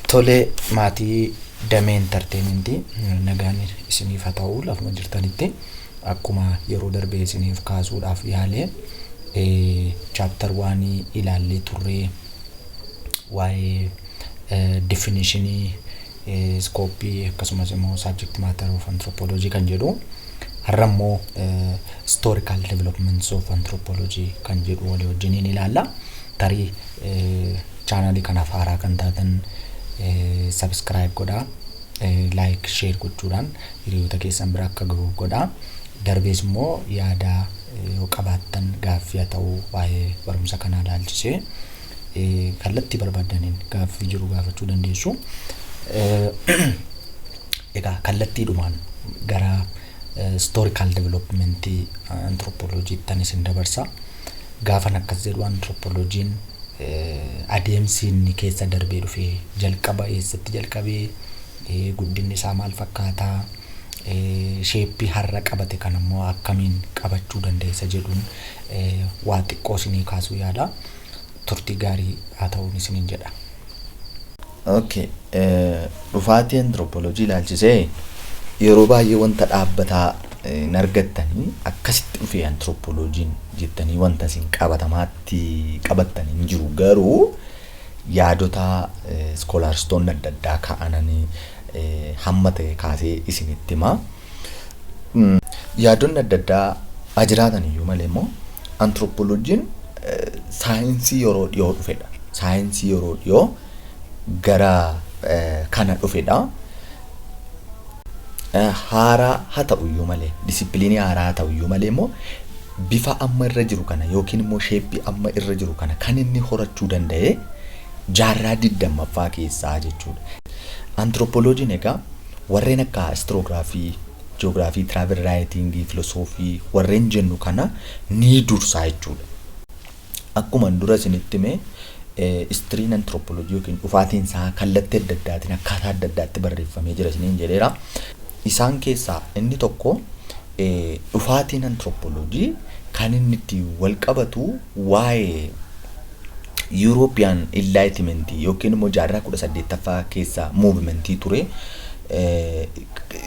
Tole maatii damee intarteementii nagaan isiniif haa ta'u lafuma jirtanitti akkuma yeroo darbee isiniif kaasuudhaaf yaalee chaaptar waanii ilaallee turree waa'ee definishinii iskooppii akkasumas immoo subject matter of anthropology kan jedhu har'a immoo historical developments of anthropology kan jedhu walii wajjiniin ilaalla tarii chaanaalii kanaaf haaraa kan taatan subscribe godhaa like share gochuudhaan hiriyoota keessan bira akka gahu godhaa darbees immoo yaada yoo qabaattan gaaffii haa ta'u waa'ee barumsa kanaa ilaalchisee kallattii barbaaddaniin gaaffii jiru gaafachuu dandeessu. Egaa kallattiidhumaan gara historical development anthropology tan isin dabarsa. Gaafan akkas jedhu anthropologiin adeemsi inni keessa darbee dhufe jalqaba eessatti jalqabee guddinni isaa maal fakkaata sheeppii har'a qabate kan ammoo akkamiin qabachuu dandeessa jedhuun waa xiqqoo isinii kaasuu yaala. turtii gaarii haa ta'uun isiniin jedha. Ok dhufaatii anthropology ilaalchisee yeroo baay'ee wanta dhaabbataa hin argattanii akkasitti dhufee anthropology'n jettanii wanta isin qabatamaatti qabattan hin jiru garuu yaadota scholarstoonni adda addaa kaa'ananii hamma ta'e kaasee isinitti hima. Yaadonni adda addaa haa jiraatan iyyuu malee immoo antirooppooloojiin saayinsii yeroo dhiyoo dhufedha. Saayinsii yeroo dhiyoo gara kana dhufedha. Haaraa haa ta'u iyyuu malee disipiliinii haaraa haa ta'u iyyuu malee immoo bifa amma irra jiru kana yookiin immoo sheeppii amma irra jiru kana kan inni horachuu danda'e jaarraa digdammaffaa keessaa jechuudha. Antirooppooloojiin egaa Warreen akka Istiroograafii, Ji'oogiraafii, Tiraavel Raayitiingii, Filosoofii warreen jennu kana ni dursa jechuudha. Akkuman dura isinitti hime Istiriin Antirooppoolojii yookiin dhufaatiin isaa kallattii adda addaatiin akkaataa adda addaatti barreeffamee jira isiniin jedheera. Isaan keessaa inni tokko dhufaatiin Antirooppoolojii kan inni ittiin wal qabatu waa'ee Yuurooppiyaan Inlaayitimentii yookiin immoo jaarraa 18ffaa keessa muuvimentii ture.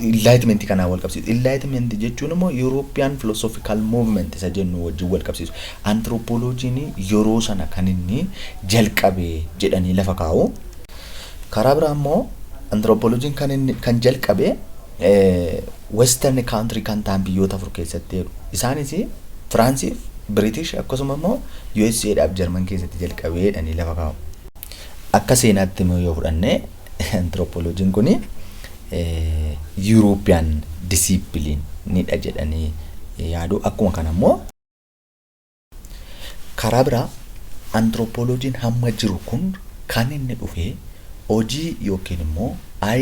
Inlaayitimentii kanaan wal qabsiisu. Inlaayitimentii jechuun immoo Yuurooppiyaan Filoosoofikaal Muuvimenti isa jennu wajjin wal qabsiisu. Antiroopooloojiin yeroo sana kan inni jalqabe jedhanii lafa kaa'u. Karaa biraa immoo antiroopooloojiin kan inni kan jalqabe Western country kan tahan biyyoota afur keessatti jedhu. Isaanis Firaansiif, Biritish akkasuma immoo usa dhaaf Jarman keessatti jalqabe jedhanii lafa kaa'u. Akka seenaatti immoo yoo fudhanne anthropology'n kuni European discipline dha jedhanii yaadu. Akkuma kana immoo. Karaa biraa antirooppooloojiin hamma jiru kun kan inni dhufe hojii yookiin immoo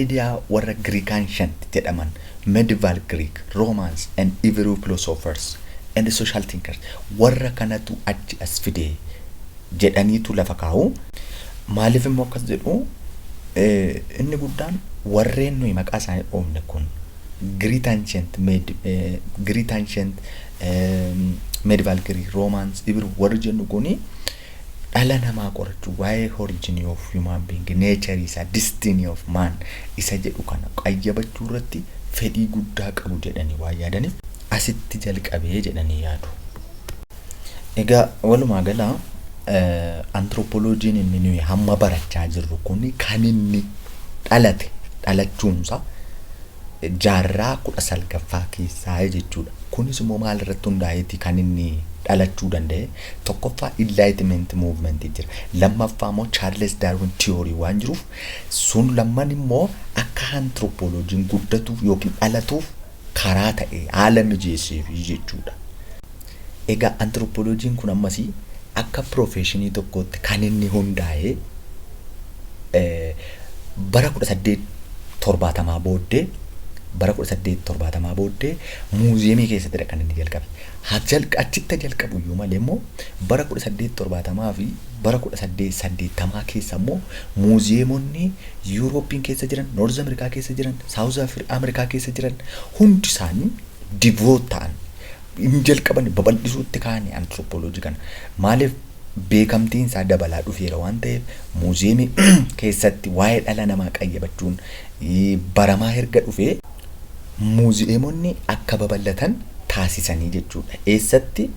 idea warra Greek-ancient jedhaman medieval Greek, Romans and Hebrew philosophers and social thinkers warra kanatu achi as fide jedhaniitu lafa kaa'u. Maaliif immoo akkas jedhu inni guddaan warreen nuyi maqaa isaanii dhoofne kun Greek-ancient med, Greek-ancient Medieval Greek, Romans, Hebrew warri jennu kuni dhala namaa qorachuu waa'ee origin of human being, nature isaa, destiny of man isa jedhu kana qayyabachuu irratti fedhii guddaa qabu jedhanii waan yaadaniif asitti jalqabee jedhanii yaadu. Egaa walumaa gala anthropologiin inni nuyi hamma barachaa jirru kun kan inni dhalate dhalachuunsa jaarraa 19ffaa keessaayi jechuudha. Kunis immoo maal irratti hundaa'eeti kan inni dhalachuu danda'e? Tokkoffaa Enlightenment Movement jira. Lammaffaa immoo Charles Darwin Theory waan jiruuf sun lamman immoo akka anthropologiin guddatuuf yookiin dhalatuuf karaa ta'e haala mijeesseefi jechuudha. Egaa antirooppooloojiin kun ammas akka piroofeeshinii tokkootti kan inni hundaa'e bara 1870 booddee bara 1870 booddee muuziyeemii keessattidha kan inni jalqabe. Haa jalq achitti jalqabu iyyuu malee immoo bara 1870 fi bara 1880 keessa immoo muuziyeemonni Yuurooppiin keessa jiran, Noorz Ameerikaa keessa jiran, Saawuz Ameerikaa keessa jiran hundi isaanii divoot ta'an. hin jalqabani babal'isuutti kaani anthropology kana. Maaliif beekamtiin isaa dabalaa dhufeera waan ta'eef muuziyeemii keessatti waa'ee dhala namaa qayyabachuun baramaa erga dhufee, muuziyeemonni akka babal'atan taasisanii jechuudha. Eessatti?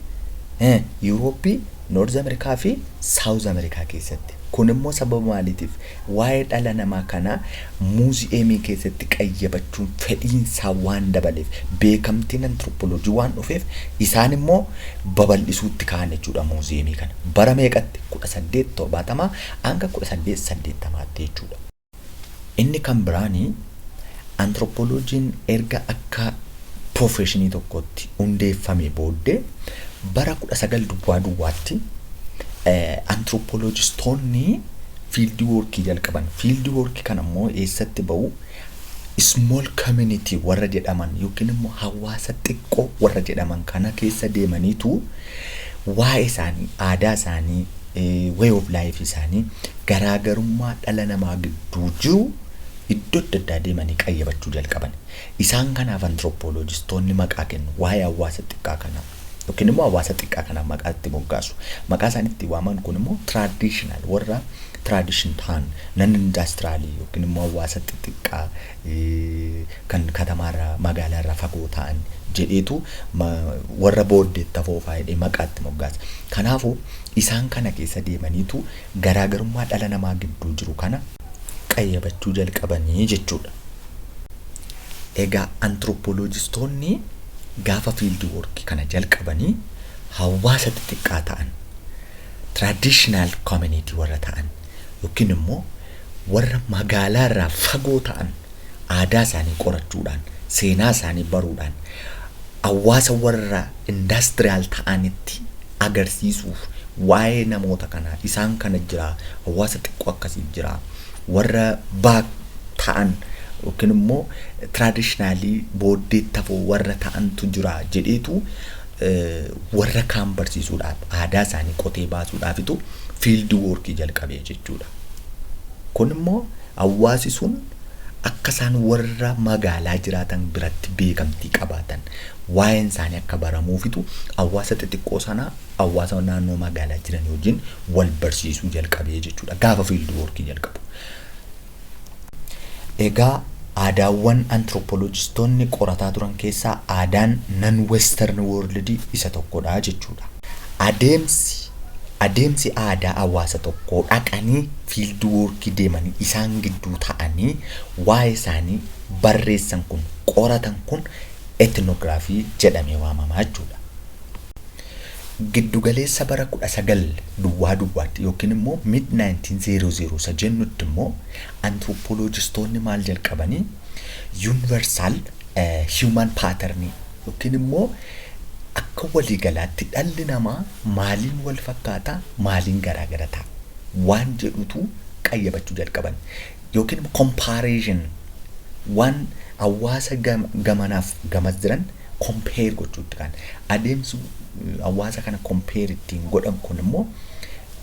Yuurooppii, Noorz Amerikaa fi Saawuz Amerikaa keessatti. Kun immoo sababa maaliitiif? Waa'ee dhala namaa kana muuziyeemii keessatti qayyabachuun fedhiinsaa waan dabaleef, beekamtiin antirooppooloojii waan dhufeef isaan immoo babal'isuutti ka'an jechuudha muuziyeemii kana. Bara meeqatti? 1870 hanga 1880tti jechuudha. Inni kan biraan. Antirooppooloojiin erga akka piroofeeshinii tokkootti hundeeffamee booddee bara 19 duwwaa duwwaatti antirooppooloojistoonni fiildii woorkii jalqaban. Fiildii woorkii kana immoo eessatti ba'u? Small community warra jedhaman yookiin immoo hawaasa xiqqoo warra jedhaman kana keessa deemaniitu waa'ee isaanii, aadaa isaanii, way of life isaanii, garaagarummaa dhala namaa gidduu jiru iddoo adda addaa deemanii qayyabachuu jalqaban. Isaan kanaaf antirooppooloojistoonni maqaa kennu. Waa'ee hawaasa xiqqaa kanaa yookiin immoo hawaasa xiqqaa kanaaf maqaa itti moggaasu. Maqaa isaan itti waaman kun immoo tiraadishinaal warra tiraadishin ta'an nan indaastiraalii yookiin immoo hawaasa xixiqqaa eh, kan katamaarraa magaalaarraa fagoo ta'an jedheetu ma- warra booddeetti hafoo fa'aa jedhee maqaa itti moggaasa. Kanaafuu isaan kana keessa deemaniitu garaagarummaa dhala namaa gidduu jiru kana qayyabachuu jalqabani jechuudha. Egaa antiropoolojistoonni gaafa fiildi woorki kana jalqabanii hawaasa xixiqqaa ta'an, traditional community warra ta'an yookiin immoo warra magaalaa irraa fagoo ta'an aadaa isaanii qorachuudhaan, seenaa isaanii baruudhaan, hawaasa warra industrial ta'anitti agarsiisuuf waa'ee namoota kanaa isaan kana jiraa hawaasa xiqqoo akkasii jiraa warra back ta'an yookiin immoo traditionally booddeetti hafoo warra ta'antu jira jedheetu warra kaan barsiisuudhaaf aadaa isaanii qotee baasuudhaafitu field work jalqabee jechuudha. Kun immoo hawaasi sun akka isaan warra magaalaa jiraatan biratti beekamtii qabaatan waa'een isaanii akka baramuufitu hawaasa xixiqqoo sanaa hawaasa naannoo magaalaa jiran wajjin wal barsiisuu jalqabee jechuudha gaafa fiildi woorkii jalqabu. Egaa aadaawwan antirooppooloojistoonni qorataa turan keessaa aadaan nan western world isa tokkodha jechuudha. Adeemsi adeemsi aadaa hawaasa tokkoo dhaqanii fiildi woorkii deemanii isaan gidduu ta'anii waa'ee isaanii barreessan kun qoratan kun ethnography, jedhamee waamama jechuudha. Giddugaleessa bara 19 duwwaa duwwaatti yookiin immoo mid 1900 isa jennutti immoo anthropologistoonni maal jalqabanii universal human pattern yookiin immoo akka waliigalaatti dhalli namaa maaliin wal fakkaata maaliin garaagara ta'a waan jedhutu qayyabachuu jalqaban. yookiin immoo comparison waan hawaasa gamanaaf gamas jiran compare gochuutti kan adeemsi hawaasa kana compare ittiin godhan kun immoo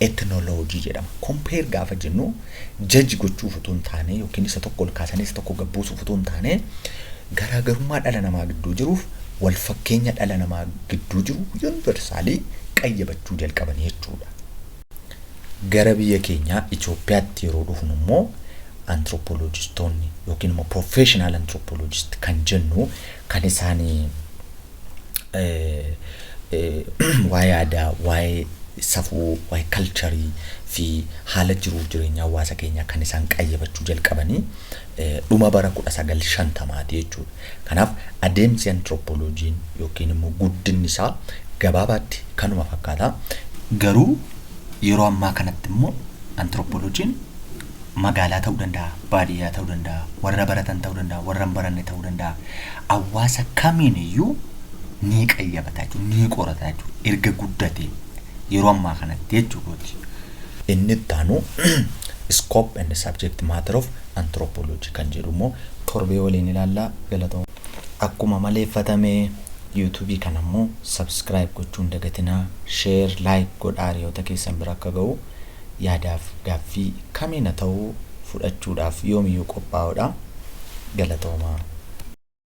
ethnology jedhama. Compare gaafa jennu jaji gochuuf utuu hin taane yookiin isa tokko ol kaasanii isa tokko gabbuusuuf utuu hin taane garaagarummaa dhala namaa gidduu jiruuf wal fakkeenya dhala namaa gidduu jiru yuuniversaalii qayyabachuu jalqaban jechuudha. Gara biyya keenyaa Itoophiyaatti yeroo dhufnu immoo antirooppooloojistoonni yookiin immoo professional antirooppooloojist kan jennu kan isaanii waa'ee aadaa, waa'ee safuu, waa'ee kalcharii fi haala jiruuf jireenya hawaasa keenyaa kan isaan qayyabachuu jalqabanii dhuma bara 1950ti jechuudha. Kanaaf adeemsi antirooppooloojiin yookiin immoo guddinni isaa gabaabaatti kanuma fakkaata. Garuu yeroo ammaa kanatti immoo antirooppooloojiin magaalaa ta'uu danda'a, baadiyyaa ta'uu danda'a, warra baratan ta'uu danda'a, warra hin baranne ta'uu danda'a. Hawaasa kamiin iyyuu ni qayyabata jechuudha, ni qorata jechuudha. Erga guddatee yeroo ammaa kanatti jechuu kooti. Inni itti aanu scope and subject matter of anthropology kan jedhu immoo torbee waliin ilaalla galatooma. Akkuma maleeffatame YouTube kana immoo subscribe gochuu hin dagatinaa, share, like godhaa hiriyoota keessan bira akka ga'u. Yaadaaf gaaffii kamiina ta'u fudhachuudhaaf yoomiyyuu qophaa'oodha. Galatoomaa.